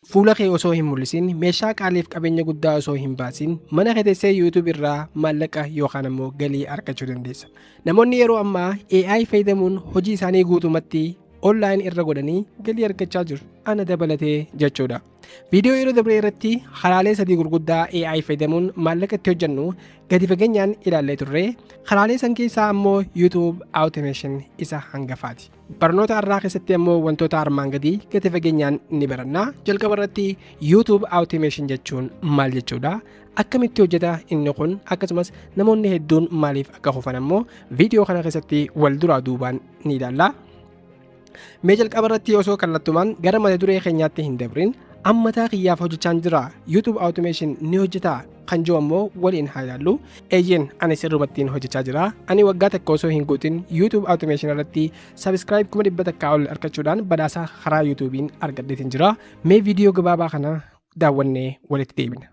Fuula kee osoo hin mul'isin, meeshaa qaaliif qabeenya guddaa osoo hin baasin, mana kee teessee YouTube irraa maallaqa yookaan ammoo galii argachuu dandeessa. Namoonni yeroo ammaa AI fayyadamuun hojii isaanii guutumatti online irra godhanii galii argachaa jiru. Ana dabalatee jechuudha. Viidiyoo yeroo dabree irratti karaalee sadii gurguddaa AI fayyadamuun maallaqa itti hojjennu gadi fageenyaan ilaallee turre. Karaalee san keessaa ammoo YouTube Automation isa hangafaati. Barnoota har'aa keessatti ammoo wantoota armaan gadii gadi fageenyaan ni baranna. Jalqaba irratti YouTube Automation jechuun maal jechuudha? Akkamitti hojjeta inni kun akkasumas namoonni hedduun maaliif akka kufan ammoo viidiyoo kana keessatti wal duraa duubaan ni ilaalla. Mee jalqaba irratti osoo kallattumaan gara mata duree keenyaatti hin dabrin ammataa kiyyaaf hojjechaan jira. YouTube Automation ni hojjetaa? kan jiru ammoo waliin haa ilaallu eeyyeen ani sirrumattiin hojjechaa jira ani waggaa takka osoo hin guutin youtube automation irratti subscribe kuma dhibba takkaa ol argachuudhaan badhaasa karaa youtubiin argadheetiin jira mee viidiyoo gabaabaa kana daawwannee walitti deebina.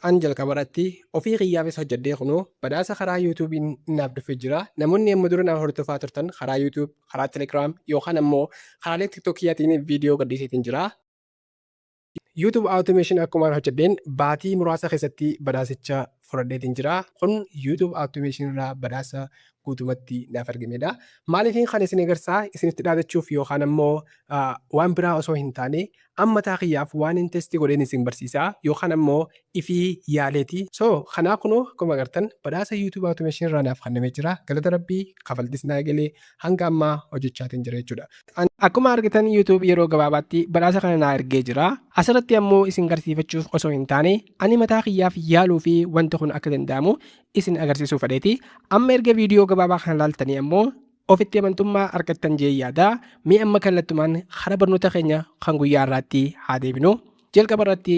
an jalqaba irratti ofii kiyyaafis hojjedhee kunoo badhaasa karaa yuutuubiin naaf dhufee jira namoonni amma dura na hordofaa turtan karaa yuutuub karaa telegiraam yookaan ammoo karaalee tiktokiyyaatiin viidiyoo gadhiiseetiin jira YouTube Automation akkumaan hojjedheen baatii muraasa keessatti badhaasicha fudhadheetiin jira. Kun YouTube Automation irraa badhaasa guutumatti naaf argameedha. Maaliifin kan isin agarsaa isinitti dhaadachuuf yookaan ammoo waan biraa osoo hin taane amma taa kiyyaaf waan hin testi godheen isin barsiisaa yookaan ammoo ifii yaaleeti. So kanaa kunoo akkuma agartan badhaasa YouTube Automation irraa naaf kennamee jira. Galata Rabbii kafaltis naa galee hanga ammaa hojjechaatiin jira jechuudha. Akkuma argitan YouTube yeroo gabaabaatti badhaasa kana naa ergee jira. Asirratti ammoo isin garsiifachuuf osoo hin taane ani mataa kiyyaaf yaaluu fi wanti kun akka danda'amu isin agarsiisuu fedheeti. Amma erga viidiyoo gabaabaa kana laaltanii ammoo ofitti amantummaa argattan jee yaada. Mee amma kallattumaan hara barnoota keenya kan guyyaa irraatti haa deebinu. Jalqaba irratti